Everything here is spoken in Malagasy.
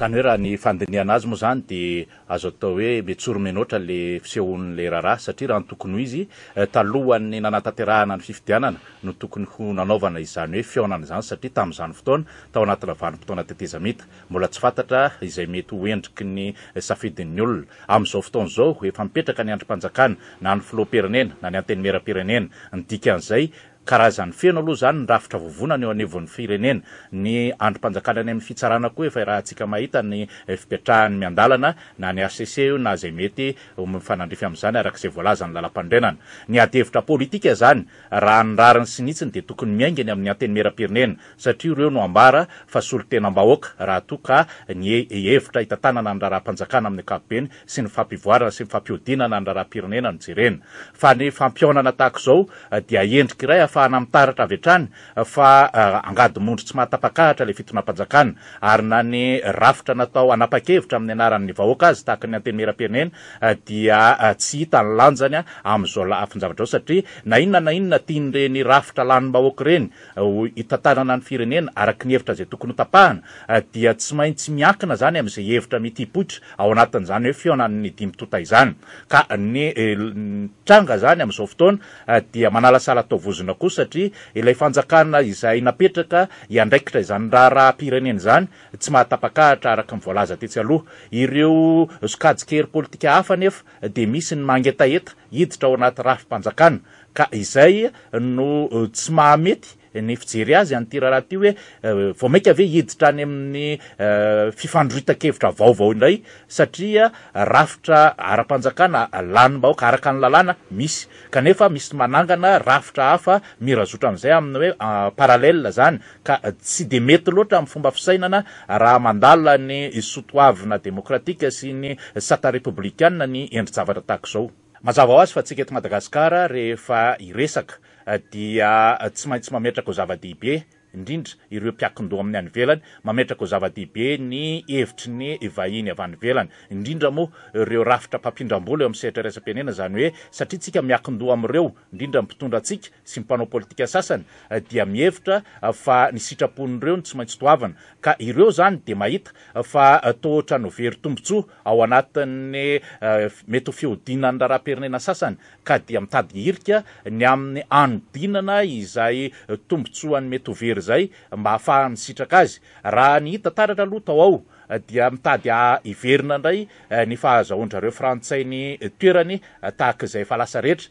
Izany hoe raha ny fandinihana azy moa izany dia azo atao hoe mitsoro-menoatra ilay fisehon'ilay raharaha satria raha ny tokony ho izy, talohan'ny nanatanterahana ny fifidianana no tokony ho nanaovana izany hoe fihaonana izany satria tamin'izany fotoana tao anatina vanim-potoana tetezamita. Mbola tsy fantatra izay mety ho endriky ny safidin'ny olona. Amin'izao fotoana izao, efa mipetraka ny andrim-panjakana, na ny filoham-pirenena, na ny antenimieram-pirenena. Ny dikan'izay, karazany feno aloha izany ny rafitra vovonana eo anivon'ny firenena. Ny andrim-panjakana any amin'ny fitsarana koa efa irahantsika mahita ny fipetrahan'ny miandalana, na ny hcc io na izay mety ho mifanandrify amin'izany araka izay voalazan'ny lalampanorenana. Ny adihevitra politika izany, raha ny rariny sy ny hitsiny dia tokony miainga eny amin'ny antenimieram-pirenena. satria ireo no ambara fa solontenam-bahoaka raha toa ka ny hevitra hitantanana ny raharaham-panjakana amin'ny ankapobeny sy ny fampivoarana sy ny fampihodinana ny raharaham-pirenena no jerena fa ny fampihaonana tahaka izao dia endrika iray ahafahana mitaratra avy hatrany fa angady mondry tsy mahatapakahatra ilay fitonam-panjakana ary na ny rafitra natao hanapa-kevitra amin'ny anaran'ny vahoaka aza tahaka ny antenimieram-pirenena dia tsy hita ny lanjany amin'izao lafin-javatra izao satria na inona na inona tian'ireny rafitra lanim-bahoaka ireny ho hitantanana ny firenena araka ny hevitra izay tokony hotapahana dia tsy maintsy miankina izany amin'izay hevitra mitipoitra ao anatin'izany hoe fihaonan'ny dimy tonta izany ka ny tranga izany amin'izao fotoana dia manalasala atao vozona koa satria ilay fanjakana izay napetraka hiandraikitra izany raharaham-pirenena izany tsy mahatapakahatra araka ny voalaza tetsy aloha ireo sokajin-kery politika hafa anefa dia misy ny mangetaheta hiditra ao anaty rafi-panjakana Ka izay no tsy mahamety ny fijery azy an'ity raharaha ity hoe vao mainka ve hiditra any amin'ny fifandroitan-kevitra vaovao indray satria rafitra ara-panjakana lanim-bahoaka araka ny lalàna misy kanefa misy manangana rafitra hafa mirazotra amin'izay amin'ny hoe parallèle izany ka tsy dia mety loatra amin'ny fomba fisainana raha mandala ny soatoavina demokratika sy ny sata repoblikana ny endri-javatra tahaka izao. Mazava ho azy fa tsika eto Madagasikara rehefa hiresaka dia tsy maintsy mametraka ho zava-dehibe indrindra ireo mpiankin-doha amin'ny any ivelany, mametraka ho zava-dehibe ny hevitry ny vahiny avy any ivelany, indrindra moa ireo rafitra mpampindram-bola eo amin'ny sehatra iraisam-pirenena, izany hoe satria tsika miankin-doha amin'ireo, indrindra ny mpitondra antsika sy ny mpanao politika sasany dia mihevitra fa ny sitrapon'ireo no tsy maintsy toavina ka ireo izany dia mahita fa toa ohatran'ny ho very tombontsoa ao anatin'ny mety ho fihodinan'ny raharaham-pirenena sasany ka dia mitady hirika ny amin'ny hanodinana izay tombontsoany mety ho very izay mba hahafahany misitraka azy. Raha ny hita taratra aloha tao ao dia mitady hiverina indray ny fahazahoan-dry zareo frantsay ny toerany tahaka izay efa lasa rehetra.